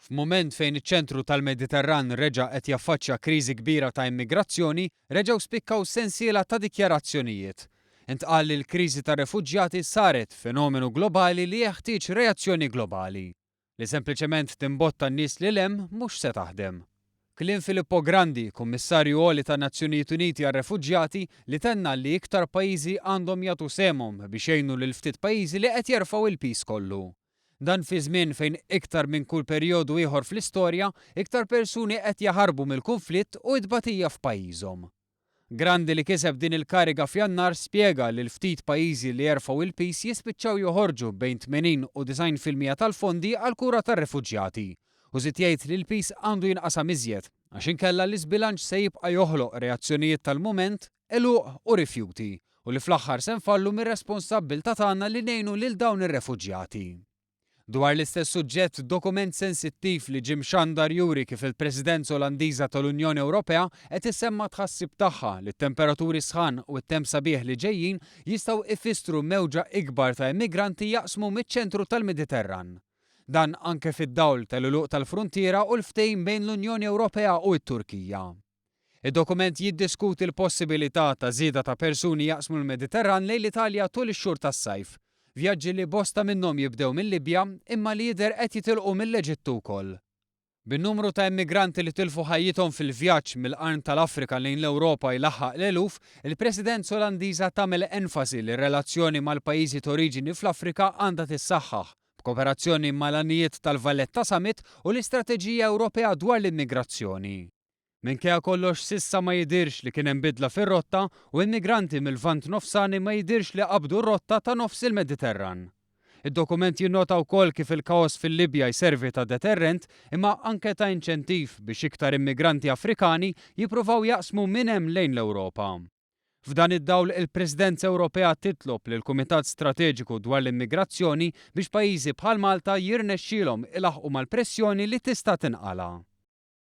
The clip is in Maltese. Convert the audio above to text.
F'mument fejn iċ-ċentru tal-Mediterran reġa' qed jaffaċċja kriżi kbira ta' immigrazzjoni, reġgħu spikkaw sensiela ta' dikjarazzjonijiet. Intqal li l-kriżi tar-refuġjati saret fenomenu globali li jeħtieġ reazzjoni globali. Li sempliċement timbotta n-nies lil hemm mhux se taħdem. Kliem Filippo Grandi, Kummissarju Għoli tan-Nazzjonijiet Uniti għar-Refuġjati, li tenna li iktar pajjiżi għandhom jagħtu sehemhom biex jgħinu lill-ftit pajjiżi li qed jerfgħu l-piż kollu. Dan fi żmien fejn iktar minn kull perjodu ieħor fl-istorja, iktar persuni qed jaħarbu mill-kunflitt u t-tbatija f'pajjiżhom. Grandi li kiseb din il-kariga f'Jannar spjega li l-ftit pajjiżi li jerfgħu il-piż jispiċċaw joħorġu bejn 80 u 90 fil-mija tal-fondi għall-kura tar-refuġjati u żied jgħid li l-piż għandu jinqasam iżjed għax inkella l-iżbilanċ se jibqa' joħloq reazzjonijiet tal-mument għeluq u rifjuti, u li fl-aħħar se nfallu mir-responsabbiltà tagħna li ngħinu lil dawn ir-refuġjati. Dwar l-istess suġġett, dokument sensittiv li ġie mxandar juri kif il-Presidenza Olandiża tal-Unjoni Ewropea qed issemma' t-tħassib tagħha li t-temperaturi sħan u t-temp sabiħ li ġejjin jistgħu ifissru mewġa ikbar ta' immigranti jaqsmu miċ-ċentru tal-Mediterran. Dan anke fid-dawl tal-għeluq tal-fruntiera u l-ftehim bejn l-Unjoni Ewropea u t-Turkija. Id-dokument jiddiskuti l-possibilità ta' żieda ta' persuni jaqsmu l-Mediterran lejn l-Italja tul ix-xhur tas-sajf, vjaġġi li bosta minnhom jibdew mil-Libja imma li jidher qed jitilqu mill-Eġittu wkoll. Bin-numru ta' immigranti li tilfu ħajjithom fil-vjaġġ mill-Qarn tal-Afrika lejn l-Ewropa jlaħħaq l-eluf, il-Presidenza Olandiża tagħmel enfasi li r-relazzjoni mal-pajjiżi t'oriġini fl-Afrika għandha tissaħħaħ, b'kooperazzjoni mal-għanijiet tal-Valletta Summit u l-Istrateġija Ewropea dwar l-Immigrazzjoni. Minkejja kollox s'issa ma jidhirx li kien hemm bidla fir-rotta u immigranti mil-Lvant Nofsani ma jidhirx li qabdu r-rotta ta' nofs il-Mediterran. Id-dokument jinnota wkoll kif il-kaos fil-Libja jservi ta' deterrent imma anke ta' inċentiv biex iktar immigranti Afrikani jippruvaw jaqsmu minn hemm lejn l-Ewropa. F'dan id-dawl il-Presidenza Ewropea titlob lill-Kumitat Strateġiku dwar l-Immigrazzjoni biex pajjiżi bħal Malta jirnexxielhom ilaħħqu mal-pressjoni li tista' tinqala'.